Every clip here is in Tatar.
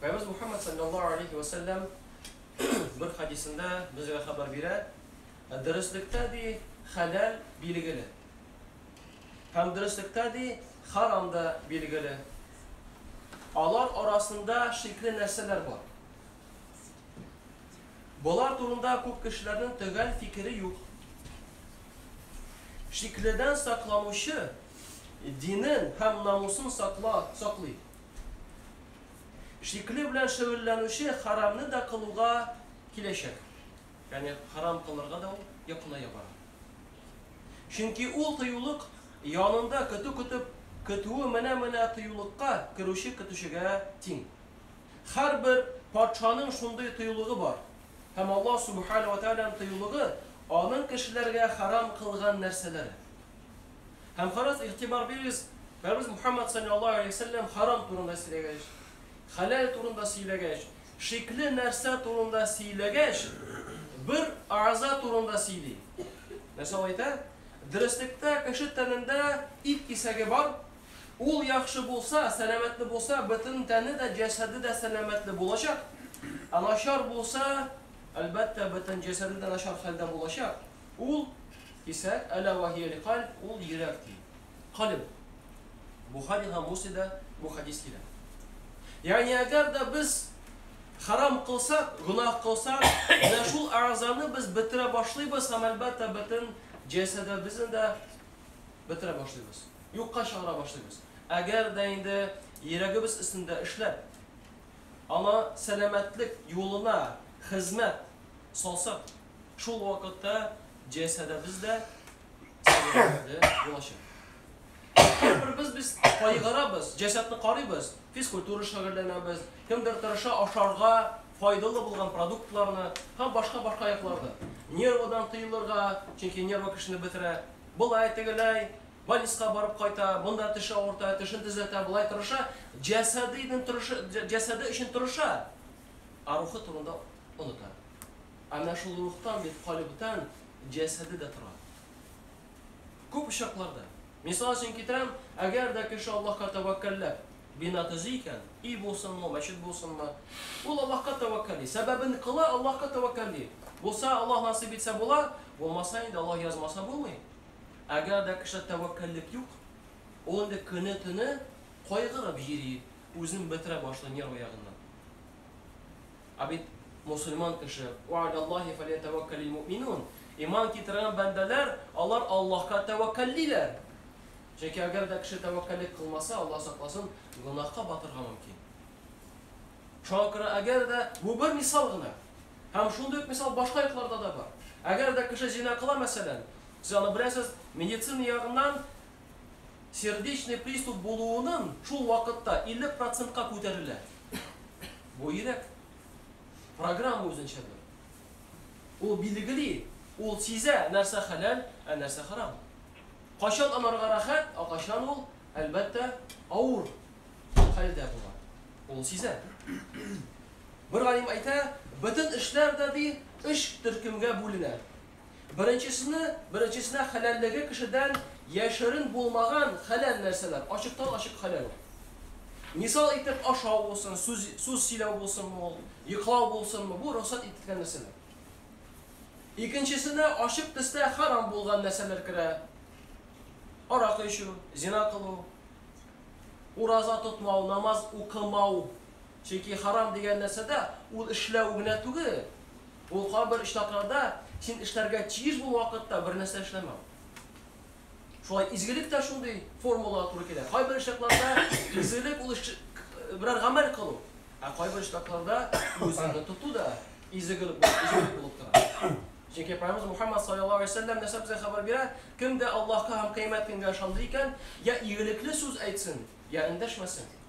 Пәйгамбәребез Мухәммәд салләллаһу галәйһи вә сәлләм бер хәдисендә безгә хәбәр бирә, Дөреслектә, ди, хәләл билгеле. Һәм дөреслектә, ди, харам да билгеле. Алар арасында шикле нәрсәләр бар. Болар турында күп кешеләрнең төгәл фикере юк. Шикледән сакланучы динен һәм намусын сакла, саклый. Шикле белән шөгыльләнүче хәрамны да кылуга киләчәк. Ягъни хәрам кылырга да ул якыная бара. Чөнки ул тыюлык янында көтү көтеп, көтүе менә-менә тыюлыкка керүче көтүчегә тиң. Һәрбер патшаның шундый тыюлыгы бар. Һәм Аллаһ Субхана ва Тәгаләнең тыюлыгы аның кешеләргә хәрам кылган нәрсәләре. Һәм карагыз, игътибар бирегез, Пәрвәз Мухәммәд салләллаһу алейһи вә сәлләм харам турында сөйләгәч, хәләл турында сөйләгәч, шикле нәрсә турында сөйләгәч, бер әгъза турында сөйли. Нәрсә ул әйтә? Дөреслектә кеше тәнендә ит кисәге бар, ул яхшы булса, сәламәтле булса, бөтен тәне дә, җәсәде дә сәламәтле булачак, ә начар булса, әлбәттә, бөтен җәсәде дә начар хәлдә булачак. Ул исә, Әлә вә һия ль-кальб, ул йөрәк, ди. Кальб. Бухари һәм Муслимда бу хәдис килә. Ягъни әгәр дә без хәрам кылсак, гөнаһ кылсак, менә шул әгъзаны без бетерә башлыйбыз һәм, әлбәттә, бөтен җәсәдебезне дә бетерә башлыйбыз, юкка чыгара башлыйбыз. Әгәр дә инде йөрәгебез өстендә эшләп, аны сәламәтлек юлына хезмәт салсак, Шул вакытта җәсәдебез дә сәяхәтне булачак. Һәрберебез без кайгырабыз, җәсәдне карыйбыз, физкультура шөгыльләнәбез, кемдер тырыша ашарга файдалы булган продуктларны һәм башка-башка якларда. Нервадан тыелырга, чөнки нерва кешене бетерә. Болай, тегеләй, больниска барып кайта, монда теше авырта, тешен төзәтә, болай тырыша, җәсәде өчен тырыша, ә рухы турында оныта. Әнә шул рухтан бит калебтән җәсәде дә тора. Күп очракларда. Мисал өчен китерәм, әгәр дә кеше Аллаһка тәвәккәлләп бина төзи икән, өй булсынмы, мәчет булсынмы, ул Аллаһка тәвәккәлли. Сәбәбен кыла, Аллаһка тәвәккәлли. Булса, Аллаһ насыйп итсә була, булмаса, инде Аллаһ язмаса булмый. Әгәр дә кешедә тәвәккәллек юк, ул инде көне-төне кайгырып йөри, үзен бетерә башлый нервы ягыннан. Ә бит мосылман кеше, Ва аляллаһи фәлиятәвәккәлил муъминун, иман китергән бәндәләр, алар Аллаһка тәвәккәллиләр. Чөнки әгәр дә кеше тәвәккәллек кылмаса, Аллаһ сакласын, гөнаһка батырга мөмкин. Шуңа күрә әгәр дә, бу бер мисал гына. Һәм шундый ук мисал башка якларда да бар. Әгәр дә кеше зина кыла, мәсәлән, сез аны беләсез, медицина ягыннан сердечный приступ булуының шул вакытта 50 процентка күтәрелә. Бу йөрәк. Программа үзенчәдер. Ул билгели, ул сизә, нәрсә хәләл, ә нәрсә харам. Кайчан анарга рәхәт, ә кайчан ул, әлбәттә, авыр хәлдә була. Ул сизә. Бер галим әйтә, бөтен эшләр дә, ди, өч төркемгә бүленә. Беренчесенә беренчесенә хәләллеге кешедән яшерен булмаган хәләл нәрсәләр, ачыктан-ачык хәләл ул. Мисал итеп, ашау булсын, сүз сүз сөйләү булсынмы ул, йоклау булсынмы, бу рөхсәт ителгән нәрсәләр. Икенчесенә ачык төстә хәрам булган нәрсәләр керә. Аракы эчү, зина кылу, ураза тотмау, намаз укымау, Чөнки харам дигән нәрсәдә ул эшләү генә түгел. Ул кайбер очракларда син эшләргә тиеш булган вакытта бер нәрсә эшләмәү. Шулай изгелек тә шундый формулага туры килә. Кайбер очракларда изгелек ул берәр гамәл кылу, ә кайбер очракларда үзеңне тоту да изгелек булып тора. Чөнки Пәйгамбер Мухаммад саллаллаһу алейһи ва сәлләм нәрсә безгә хәбәр бирә? Кем дә Аллаһка һәм кыямәт көнгә ышанды икән, я игелекле сүз әйтсен, я эндәшмәсен.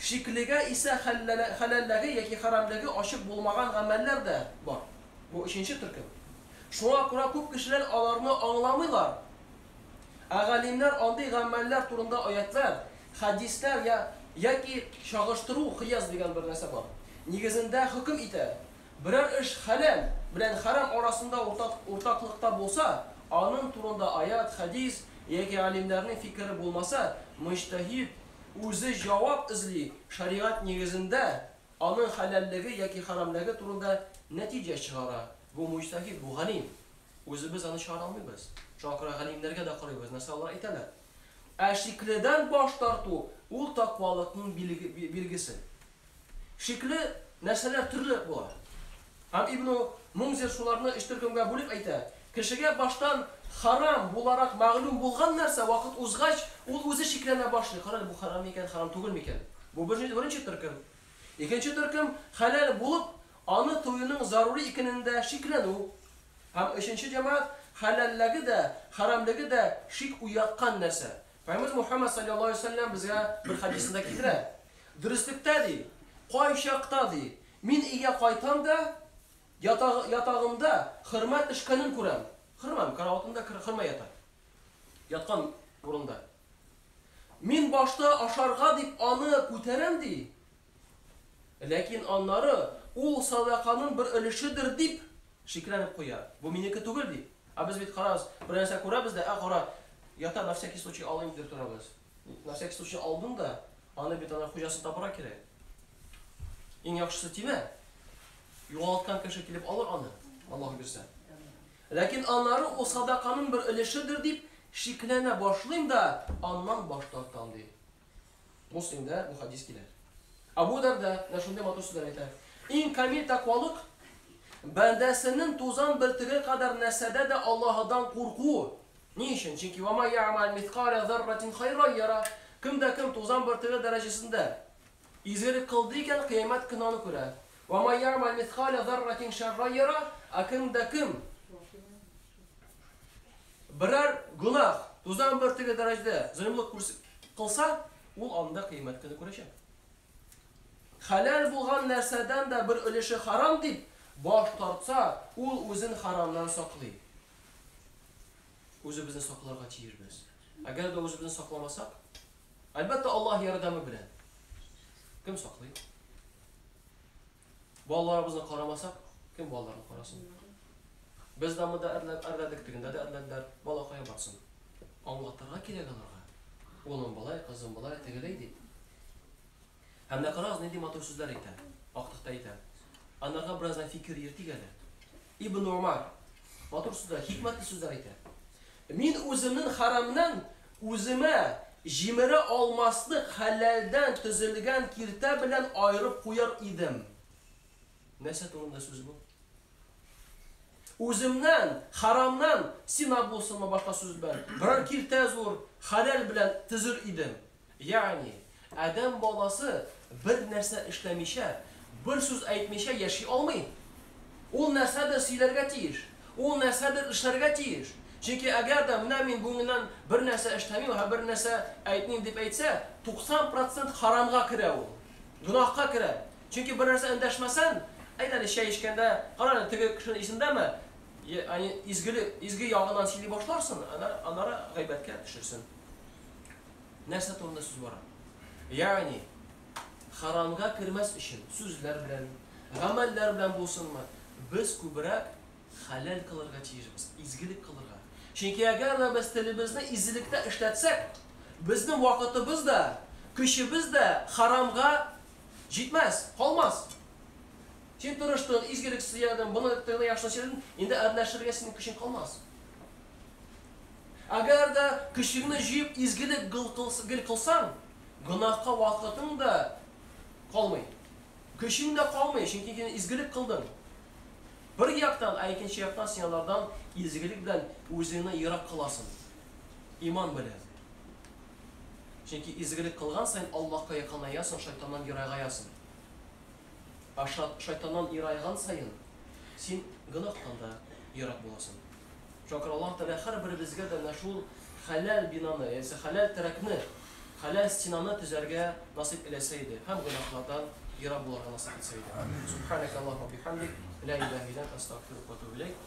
Шиклегә исә хәләллеге яки хәрәмлеге ачык булмаган гамәлләр дә бар. Бу өченче төркем. Шуңа күрә күп кешеләр аларны аңламыйлар. Ә галимнәр андый гамәлләр турында аятьләр, хәдисләр яки чагыштыру, кыяс дигән бер нәрсә бар, нигезендә хөкем итә, Берәр эш хәләл белән хәрам арасында уртаклыкта булса, аның турында аять, хәдис яки галимнәрнең фикере булмаса, мөҗтәһид үзе җавап эзли, шәригать нигезендә аның хәләллеге яки хәрамлеге турында нәтиҗә чыгара. Бу мөҗтәһид, бу галим. Үзебез аны чыгара алмыйбыз. Шуңа күрә галимнәргә дә карыйбыз, нәрсә алар әйтәләр. Ә шикледән баш тарту, ул таквалыкның билгесе. Шикле нәрсәләр төрле була. Һәм Ибну Мунзир шуларны өч төркемгә бүлеп әйтә, Кешегә баштан харам буларак мәгълүм булган нәрсә вакыт узгач, ул үзе шикләнә башлый, карале, бу харам микән, харам түгел микән? Бу беренче төркем. Икенче төркем, хәләл булып, аны тыюның зарури икенендә шикләнү. Һәм өченче җәмәгать, хәләллеге дә, харәмлеге дә шик уяткан нәрсә. Пәйгамбәр Мухәммәд салләллаһу алейһи вә сәлләм безгә бер хәдисендә китерә. Дөреслектә, ди, кайчакта, ди, мин өйгә кайтам да, ятагы, ятагымда хөрмә төшкәнен күрәм. Хөрмә, караватында хөрмә ята. Яткан урында. Мин башта ашарга дип аны күтәрәм, ди, Ләкин аннары, Ул садаканың бер өлешедер дип, шикләнеп куя. Бу минеке түгел бит. Ә без бит, карагыз, бер нәрсә күрәбез дә, Ә, кара, ята, на всякий случай алыйм, дип торабыз. На всякий случай алдың да, аны бит ана хуҗасын табырга кирәк. Иң яхшысы тимә. Югалткан кеше килеп алыр аны, Аллаһ бирсә. Ләкин аннары ул садаканың бер өлешедер дип шикләнә башлыйм да, аннан баш тартам, ди. Муслимдә бу хәдис килә. Абу Дарда менә шундый матур сүзләр әйтә. Иң камил тәкъвалык бәндәсенең тузан бөртеге кадәр нәрсәдә дә Аллаһыдан курку. Ни өчен? Чөнки ва ма я'мал мискаля зарратин хайран яра. Кем дә кем тузан бөртеге дәрәҗәсендә изгелек кылды икән, кыямәт көне аны күрә. Ва ма я'мал мискаля зарратин шарран яра. Ә кем дә кем Берәр гөнаһ, тузан бөртеге дәрәҗәдә золымлык күрс- кылса, ул анда кыямәт көне күрәчәк. Хәләл булган нәрсәдән дә бер өлеше харам дип баш тартса, ул үзен харамнан саклый. Үзебезне сакларга тиешбез. Әгәр дә үзебезне сакламасак, әлбәттә, Аллаһ ярдәме белән. Кем саклый? Балаларыбызны карамасак, кем балаларны карасын? Без дамыда әрләдек, тегендә дә әрләделәр, бала кая барсын? Аңлатырга кирәк аларга. Улым болай, кызым болай, тегеләй дип. Һәм менә карагыз, нинди матур сүзләр әйтә, актыкта әйтә. Анарга бераздан фикер йөртик әле. Ибн Умар матур сүзләр, хикмәтле сүзләр әйтә. Мин үземнең харамнан үземә җимерә алмаслык хәләлдән төзелгән киртә белән аерып куяр идем. Нәрсә турында сүз бу? Үземнән, харамнан сина булсынмы башка сүз белән, берәр киртә зур, хәләл белән төзер идем. Ягъни, адәм баласы бер нәрсә эшләмичә, бер сүз әйтмичә яши алмый. Ул нәрсәдер сөйләргә тиеш, ул нәрсәдер эшләргә тиеш. Чөнки әгәр дә менә мин бүгеннән бер нәрсә эшләмим һәм бер нәрсә әйтмим дип әйтсә, 90 процент харамга керә ул, гөнаһка керә. Чөнки бер нәрсә эндәшмәсән, әйт әле, чәй эчкәндә, кара әле, теге кеше исендәме, ягъни изге ягыннан сөйли башларсың, аннары гайбәткә төшерсен. Нәрсә турында сүз бара? Ягъни, харамга кермәс өчен сүзләр белән, гамәлләр белән булсынмы, без күбрәк хәләл кылырга тиешбез, изгелек кылырга. Чөнки әгәр дә без телебезне изгелектә эшләтсәк, безнең вакытыбыз да, көчебез дә харамга җитмәс, калмас. Син тырыштың, изгелек сөйләдең, моны яхшылап сөйләдең, инде әрләшергә синең көчең калмас. Әгәр дә көчеңне җыеп изгелек гел кылсаң, гөнаһка вакытың да калмый, көчең дә калмый, чөнки син изгелек кылдың. Бер яктан, ә икенче яктан син алардан изгелек белән үзеңне ерак кыласың, иман белән. Чөнки изгелек кылган саен Аллаһка якынаясың, шайтаннан ерагаясың. Ә шайтаннан ерайган саен, син гөнаһтан да ерак буласың. Шуңа күрә Аллаһ Тәгалә һәрберебезгә дә менә шул хәләл бинаны, ягъни хәләл терәкне, хәләл стенаны төзәргә насыйп эләсә иде һәм гөнаһлардан ерак булырга насыйп итсә иде. Субханәкәллаһумма ва бихәмдик, лә илаһә илля әнтә, әстәгъфирүкә ва әтүбү иләйк.